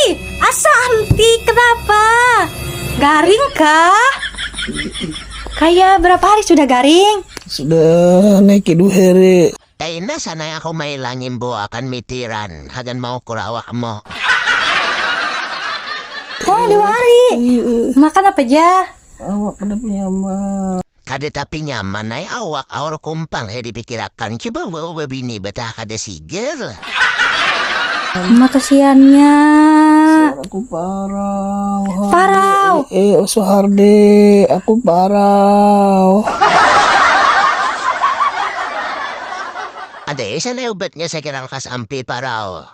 Ai, asa anti kenapa? Garing kah? Kayak berapa hari sudah garing? Sudah naik ke dua hari. Kaina sana aku mailangin bo akan mitiran hagan mau ukur awakmu. Oh dua hari. Makan apa ja? Awak kada punya ma. Kada tapi nyaman ai awak aur kumpang he dipikirakan, cuba waw babini bataha kada sigar. Mah kasiannya. Suara aku parau. Harde. Parau. Eh, eh oso harde. Aku parau. Ada eh sana ubatnya sakira lekas ampe parau.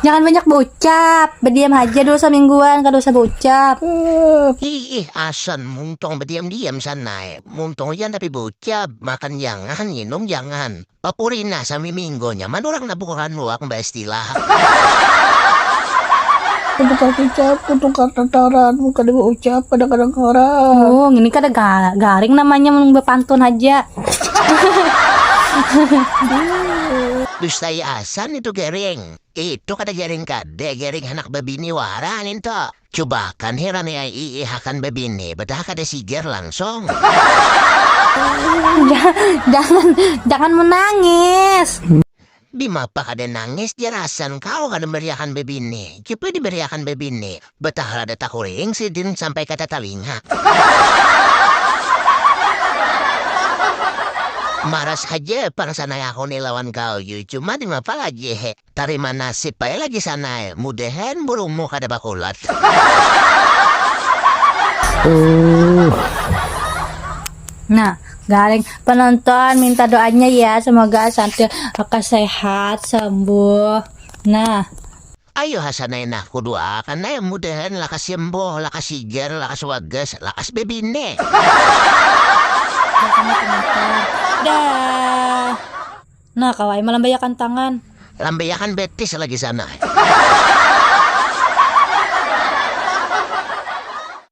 Jangan banyak berucap, berdiam aja dulu semingguan, kada usah berucap. Ih, asan muntong berdiam-diam sana. Eh. Muntong iya tapi berucap, makan jangan, minum jangan. Papurina sami minggu nyaman orang nak bukan luak mbak istilah. Kada kasih ucap, kutu kata taran, kada berucap, kadang-kadang orang. Oh, ini kada garing namanya berpantun aja. Dustai asan itu gering. Itu kada gering kada, gering handak babini wara ninto. Cubakan hiran ai iih akan babini, betaha kada sigar langsung. Jangan jangan menangis. Dimapa kada nangis jar Hasan kawa kada bariakan babini, cuba dibariakan babini, batahal ada tahuring sidin sampai kada talinga. Maras haja pang sanai aku ni lawan Galju, cuma dimapa lagi he, tarima nasib bae lagi sanai, mudahan burungmu kada bakulat. Nah Garing penonton minta doanya ya semoga santai akan sehat sembuh. Nah. Ayo hasanai nah kudoakan ai mudahan lakas sembuh lakas sigar lakas wagas lakas bebine. Dah. Nah kawa ai malambaiakan tangan. Lambaiakan betis lagi sana.